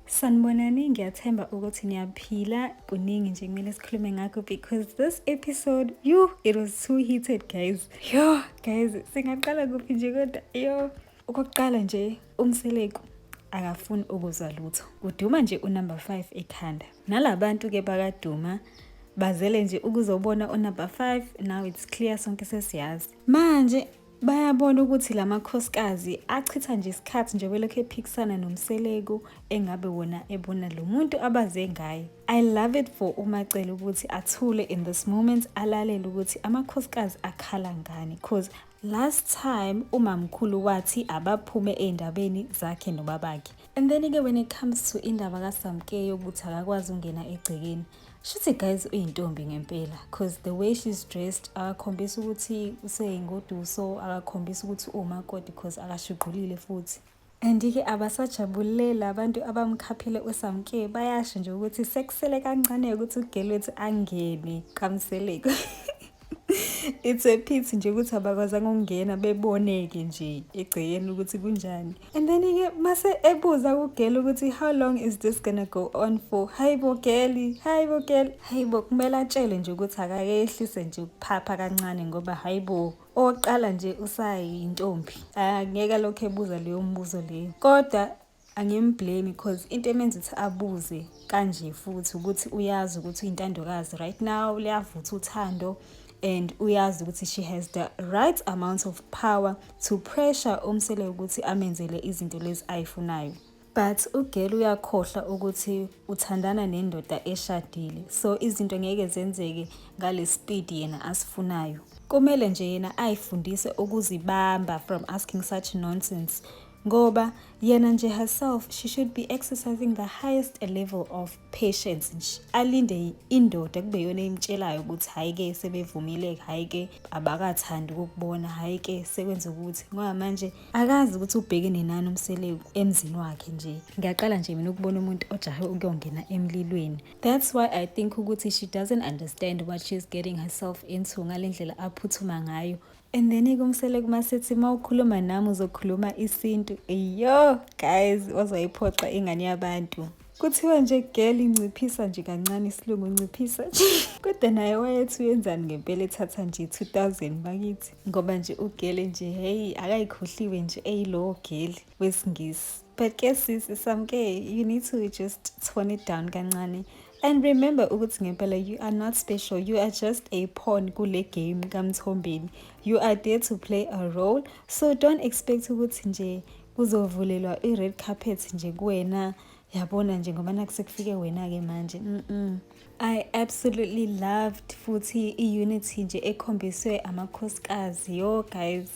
Sanibonani, ngiyathemba ukuthi niyaphila. Kuningi nje kumele sikhulume ngakho because this episode, yo, it was too heated guys. Yo, guys, singaqala kuphi nje kodwa? Yo, okokuqala nje umseleku akafuni ukuzwa lutho. Kuduma nje unumber 5 ekhanda. Nalabantu ke bakaduma bazele nje ukuzobona unumber 5 now it's clear sonke sesiyazi. Manje Bayabona ukuthi la makhosikazi achitha nje isikhathi nje belokhu ephikisana nomseleku engabe wona ebona lo muntu abaze ngaye. I love it for uMacele ukuthi athule in this moment alalele ukuthi amakhosikazi akhala ngani cause last time umamkhulu wathi abaphume ey'ndabeni zakhe nobabakhe and then-ke when it comes to indaba kasamkeyo ukuthi akakwazi ukungena egcekeni shuthi guys uyintombi ngempela cause the way she's dressed akakhombisa ukuthi useyingoduso akakhombisa ukuthi umakoti cause akashuqulile futhi andike abasajabulela abantu abamkhaphile usamke bayasho nje ukuthi sekusele kancane ukuthi ugelwethi angene kamseleko it's a pity nje ukuthi abakwazanga ukungena beboneke nje egcekeni ukuthi kunjani and then ke mase ebuza kugela ukuthi how long is this gonna go on for hayibo geli hayibo geli hayibo kumele atshele nje ukuthi akakehlise nje ukuphapha kancane ngoba hayibo oqala nje usayintombi angeke lokho ebuza leyo mbuzo leyo kodwa angimblame because into emenza ukuthi abuze kanje futhi ukuthi uyazi ukuthi uyintandokazi right now liyavutha uthando and uyazi ukuthi she has the right amount of power to pressure umsele ukuthi amenzele izinto lezi ayifunayo but ugel uyakhohlwa ukuthi uthandana nendoda eshadile so izinto ngeke zenzeke ngale speed yena asifunayo kumele nje yena ayifundise ukuzibamba from asking such nonsense ngoba yena nje herself she should be exercising the highest level of patience nje alinde indoda kube yona imtshelayo ukuthi hhayi ke sebevumeleke hhayi ke abakathandi ukukubona hhayi ke sekwenza ukuthi ngoba manje akazi ukuthi ubhekene nani umseleku emzini wakhe nje ngiyaqala nje mina ukubona umuntu ojahe ukuyongena emlilweni that's why i think ukuthi she doesn't understand what she's getting herself into ngale ndlela aphuthuma ngayo and then ikumsele kuma sithi uma ukhuluma nami uzokhuluma isintu eyo guys wazoyiphoxa ingane yabantu kuthiwa nje girl inciphisa nje kancane isilungu unciphisa nje kodwa naye wayethi uyenzani ngempela ethatha nje 2000 bakithi ngoba nje ugele nje heyi akayikhohliwe nje eyilowo geli wesingisi but ke sisi samke you need to just tone it down kancane And remember ukuthi ngempela you are not special, you are just a pawn kule game kaMthombeni. You are there to play a role, so don't expect ukuthi nje kuzovulelwa i-red carpet nje kuwena yabona nje ngoba nakusekufike wena-ke manje mm -mm. i absolutely loved futhi i-unity nje ekhombiswe amakhosikazi yo guys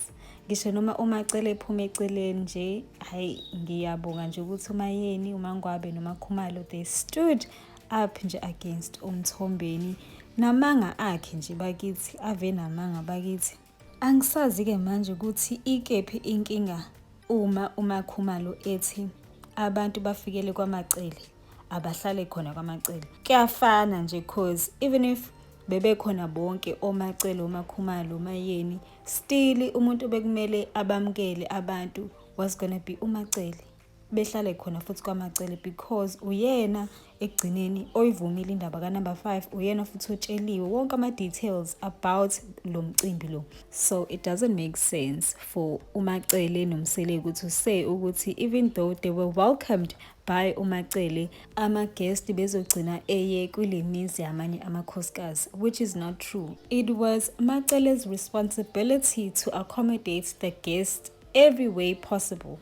ngisho noma umacele ephume eceleni nje hayi ngiyabonga nje ukuthi umayeni umangwabe nomakhumalo they stood up nje against umthombeni namanga akhe nje bakithi ave namanga bakithi angisazi-ke manje ukuthi ikephi inkinga uma umakhumalo ethi abantu bafikele kwamacele abahlale khona kwamacele kuyafana nje cause even if bebekhona bonke omacele omakhumalo omayeni Stili umuntu bekumele abamukele abantu was gonna be uMacele. Behlale khona futhi kwaMacele because uyena ekugcineni oyivumile indaba ka number 5 uyena futhi otsheliwe wonke ama details about lo mcimbi lo. So it doesn't make sense for uMacele noMsele ukuthi say ukuthi even though they were welcomed By uMacele, ama-guest bezogcina eye kule mizi yamanye amakhosikazi, which is not true. It was Macele's responsibility to accommodate the guest every way possible.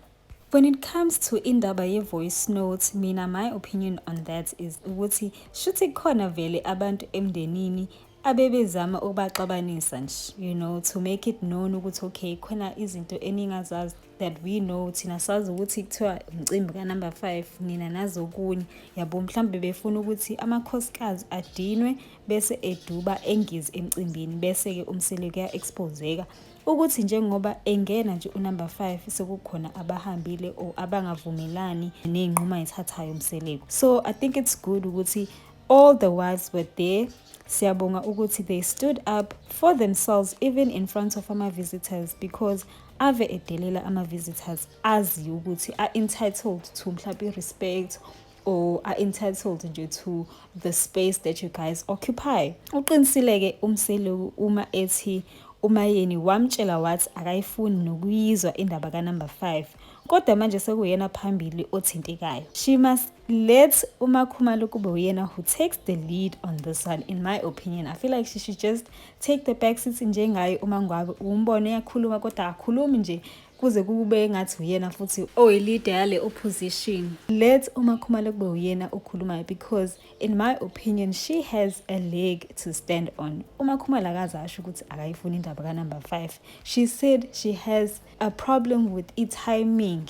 When it comes to indaba ye-voice note, mina my opinion on that is ukuthi shuthi khona vele abantu emndenini abebezama ukubaxabanisa nje you know to make it known ukuthi okay khona izinto eningazazi that we know thina sazi ukuthi kuthiwa umcimbi kanumber five nina nazokunye yabo mhlawumbe befuna ukuthi amakhosikazi adinwe bese eduba engizi emcimbini bese-ke umsele kuya-expozeka ukuthi njengoba engena nje unumber five sekukhona abahambile or abangavumelani ney'nquma ethathayo umseleko so i think it's good ukuthi All the wives were there. Siyabonga ukuthi they stood up for themselves even in front of ama visitors because ave edelela ama visitors azi ukuthi are entitled to mhlawumbe respect or are entitled nje to the space that you guys occupy. Uqinisileke umseluku uma ethi umayeni wamtshela wathi akayifuni nokuyizwa indaba ka number 5 kodwa manje sekuyena phambili othintekayo she must let umakhumalo kube uyena who takes the lead on this one in my opinion i feel like she should just take the back seat njengaye uma ngwabe umbone yakhuluma kodwa akhulumi nje kuze kube ngathi uyena futhi oyilida yale opposition let umakhumalo kube uyena okhulumayo because in my opinion she has a leg to stand on umakhumalo akaze asho ukuthi akayifuni indaba kanumber 5 she said she has a problem with i-timing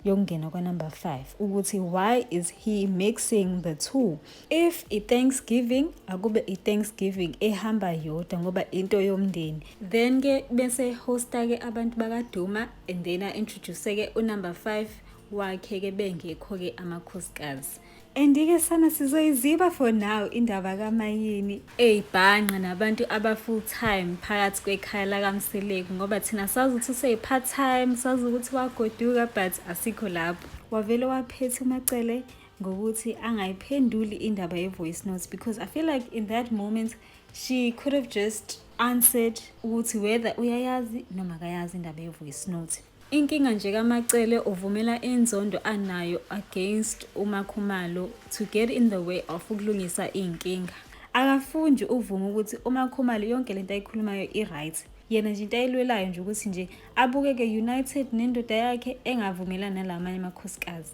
yokungena kwanumber 5 ukuthi why is he mixing the two if i-thanksgiving akube i-thanksgiving ehamba yodwa ngoba into yomndeni then ke bese hosta ke abantu bakaduma and then a-introduce-ke unumber 5 wakhe ke bengekho-ke amakhosikazi Andike sana sizoyiziba for now indaba kamayini. Eyibhanqa nabantu aba full time phakathi kwekhaya lakamseleku ngoba thina sazi ukuthi useyi part time sazi ukuthi wagoduka but asikho lapho. Wavele waphethe umacele ngokuthi angayiphenduli indaba ye voice notes because I feel like in that moment she could have just answered ukuthi whether uyayazi noma akayazi indaba ye voice note. Inkinga nje kaMaCele uvumela inzondo anayo against uMaKhumalo to get in the way of ukulungisa iy'nkinga. Akafundi uvume ukuthi uMaKhumalo yonke lento ayikhulumayo i-right. Yena nje into ayilwelayo nje ukuthi nje abukeke united nendoda yakhe engavumelani nalamanye amakhosikazi.